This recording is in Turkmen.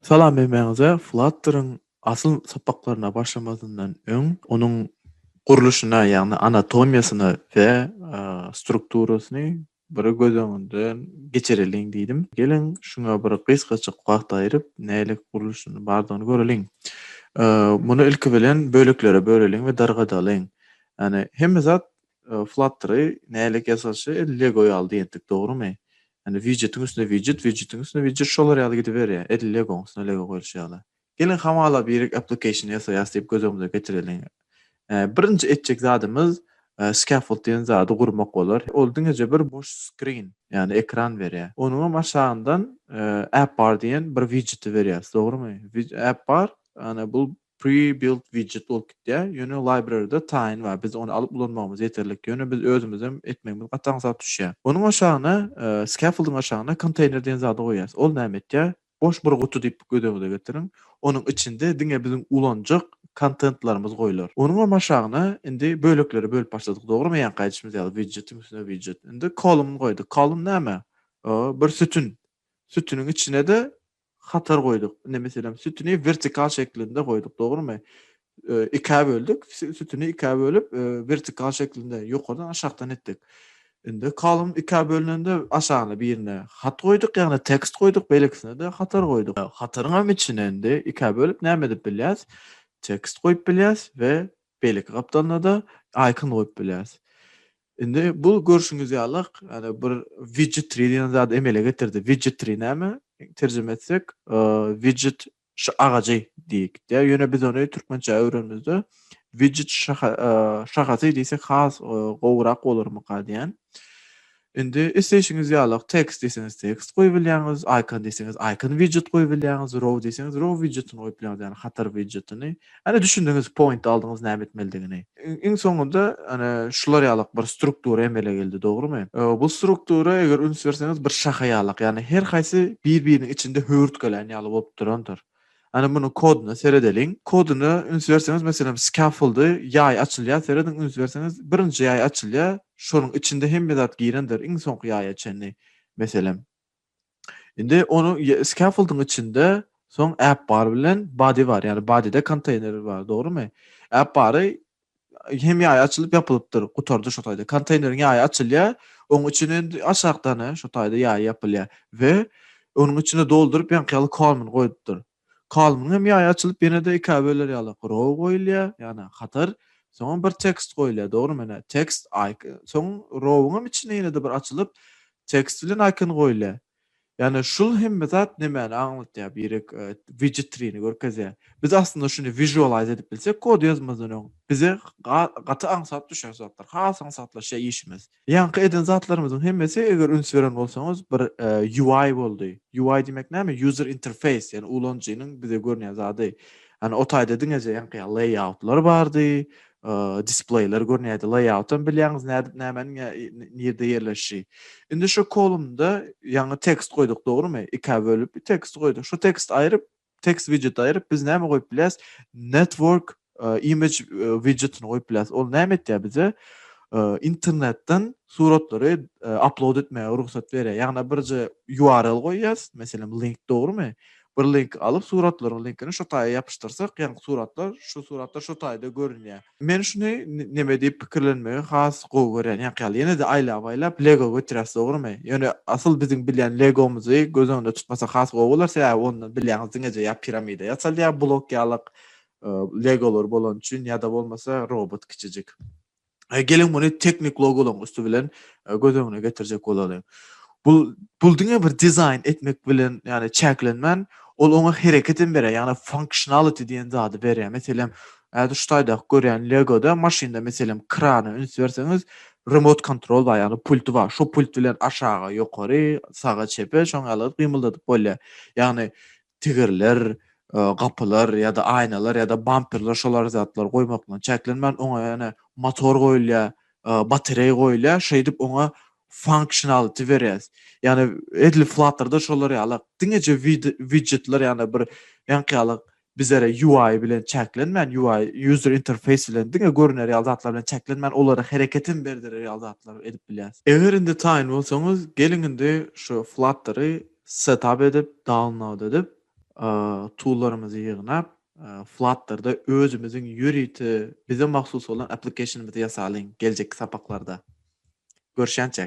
Salam Hemmäňize Flutter-yň asyl sapaklaryna başlamazyndan öň onuň gurluşyna ýagny anatomiýasyna we strukturasyny Biri göz öňünden geçireliň diýdim. Geliň, şuňa bir gysgajyk wagt aýryp, nälik gurluşyny bardygyny göreliň. Muny ilki bilen böleklere böleliň we dargadalyň. Ýagny hemme zat Flutter-y nälik ýasalyşy edil Lego ýaly diýendik, dogrumy? Ýagny widjetiň üstüne widjet, widjetiň üstüne widjet şolar ýaly gidiberýär, edil Legoň üstüne Lego goýluşy ýaly. Geliň hamala birik application ýasaýas diýip göz öňümize getireliň. Birinji etjek zadymyz scaffold diýen zady gurmak bolar. Ol diňeje bir boş screen, ýagny ekran berýär. Onuňam aşagyndan app bar diýen bir widjeti berýäs, dogrymy? App bar, ýagny bu pre-built widjet bolup gitýär. Ýöne library-da taýyn bar. Biz ony alyp ulanmagymyz ýeterlik. Ýöne biz özümizem etmegimiz gaty aňsat düşýär. Onuň aşagyna scaffold-yň aşagyna konteýner diýen zady goýýas. Ol näme etýär? Boş bir guty diýip gözüňize getiriň. Onuň içinde diňe biziň ulanjak kontentlarymyz goýlar. Onuňam aşagyna indi böleklere bölüp başladyk, dogrymy? Ýaňky aýdyşymyz ýaly, widjetiň üstüne widjet. Indi kolumn goýduk. Kolumn näme? O, bir sütün. Sütüniň içine-de hatar goýduk. Indi, meselem, sütüni wertikal şeklinde goýduk, dogrymy? Ikä böldük. Sütüni ikä bölüp, wertikal şeklinde ýokardan aşakdan etdik. Indi kolumn ikä bölünende aşagyna birine hat goýduk, ýagny tekst goýduk, beýlekisine-de hatar goýduk. Hataryňam içine indi ikä bölüp näme edip bilýäs? Tekst goýup bilýäs we beýleki gapdalynada icon goýup bilýäs. Indi bu görşüňiz ýaly ýagny bir widget tree diýen zady emele getirdi. Widget tree näme? Terjime etsek widget Şu agajy diýik diýýär. Ýöne biz ony türkmençä öwrenimizde widget şahasy diýsek has gowurak bolarmyka diýýän. Indi isleýşiňiz ýaly tekst diýseňiz tekst goýup bilýäňiz, icon diýseňiz icon widget goýup bilýäňiz, row diýseňiz row widgetini goýup bilýäňiz, ýagny hatar widgetini. Hany düşündiňiz point aldyňyz näme etmelidigini. Iň soňunda hany şular ýalak bir struktura emele geldi dogrymy? Bu struktura eger üns berseňiz bir şaha ýalak ýagny her haýsy bir biriniň içinde höwürtgelän ýaly bolup durandyr. Hany munuň koduna seredeliň. Koduna üns berseňiz meselem scaffoldy ýaý açylýar serediň üns berseňiz birinji ýaý açylýar şonuň içinde hemme zat girendir iň soňky ýaýa çenli meselem. Indi onuň scaffolding içinde soň app bar bilen body bar. Yani bodyda konteyner bar, dogrumy? App bary hem ýaýy açylyp ýapylypdyr, gutardy şu taýda. Konteýneriň ýaýy açylýar, onuň içine indi aşakdan şo taýda ýaýy ýapylýar we onuň içine dolduryp ýaňky ýaly kormyny goýupdyr. Kalmyň hem ýaýy açylyp ýene-de ikä böler ýaly row goýulýar, ýagny hatar, soňam bir tekst goýulýar, dogrymy, ine, tekst, icon, soň row-yň hem içinde ýene-de bir açylyp tekst bilen icon goýulýar. Ýagny şul hemme zat nämäni aňlatýar, birek widgetrini görkezýär. Biz aslynda şuny visualize edip bilsek kod ýazmazdan öň, bize gaty aňsat düşer zatlar, has aňsatlaşýar işimiz. Ýaňky eden zatlarymyzyň hemmesi eger üns beren bolsaňyz bir UI boldy. UI diýmek näme? User interface, ýagny ulanyjynyň bize görünýän zady. Ýagny o taýda diňeje ýaňky ýaly layoutlar bardy, displeýler görünýärdi. Layout hem bilýäňiz nädip nämäniň nirde ýerleşişi. Indi şu kolumnda ýaňy tekst goýduk dogrymy? Ikä bölüp teksti goýduk. Şu teksti aýryp Text widgeti aýryp biz näme goýup bilýäs? Network image widgetini goýup bilýäs. Ol näme etýär bize? Internetden suratlary upload etmäge rugsat berýär. Ýagny birje URL goýýas, meselem link dogrumy? Bir link alyp suratlaryň linkini şo taýa ýapyşdyrsak, ýagny suratlar, şu suratlar şo taýda görünýär. Men şuny neme diýip pikirlenmegi has gowy görýän. Ýaňky ýaly ýene-de aýlap-aýlap Lego götüräs, dogrumy? Ýöne asyl biziň bilýän Legomyzy göz öňünde tutmasak has gowy bolar, sebäbi onda bilýäňiz diňeje ýa piramida ýasaldy ýa blok ýalyk Legolar bolany üçin ýa-da bolmasa robot kiçijik. Geliň muny teknik Logolaryň üsti bilen göz öňüne getirjek bolalyň. Bu bul diňe bir dizaýn etmek bilen, ýagny çäklenmän, ol oňa hereket hem berýär, ýagny functionality diýen zady berýär. Meselem, häzir şu taýdaky görýän Lego-da maşynda meselem krana üns berseňiz, remote control bar, ýagny pulty bar. Şo pult bilen aşaga, ýokary, saga, çepe şoňa ýaly gyt gymyldadyp bolýar. Ýagny Tigirler, gapylar ýa-da aýnalar ýa-da bamperler şolar zatlar goýmak bilen çäklenmän, oňa ýene motor goýulýar, batereý goýulýar, şeýdip oňa funksionality berýäs. Ýagny edil Flutter-da şolar ýaly diňeje widgetler ýagny bir ýaňky ýaly bizlere UI bilen çäklenmän, UI, user interface, bilen diňe görüner ýaly zatlar bilen çäklenmän, olara hereket hem berdirer ýaly zatlar edip bilýäs. Eger indi taýyn bolsaňyz, geliň indi şu Flutter-y Setap edip, download edip, toollarymyzy ýygnap, Flutter-da özümiziň ýörite bize mahsus bolan application-ymyzy ýasalyň geljekki sapaklarda. Görşänçä!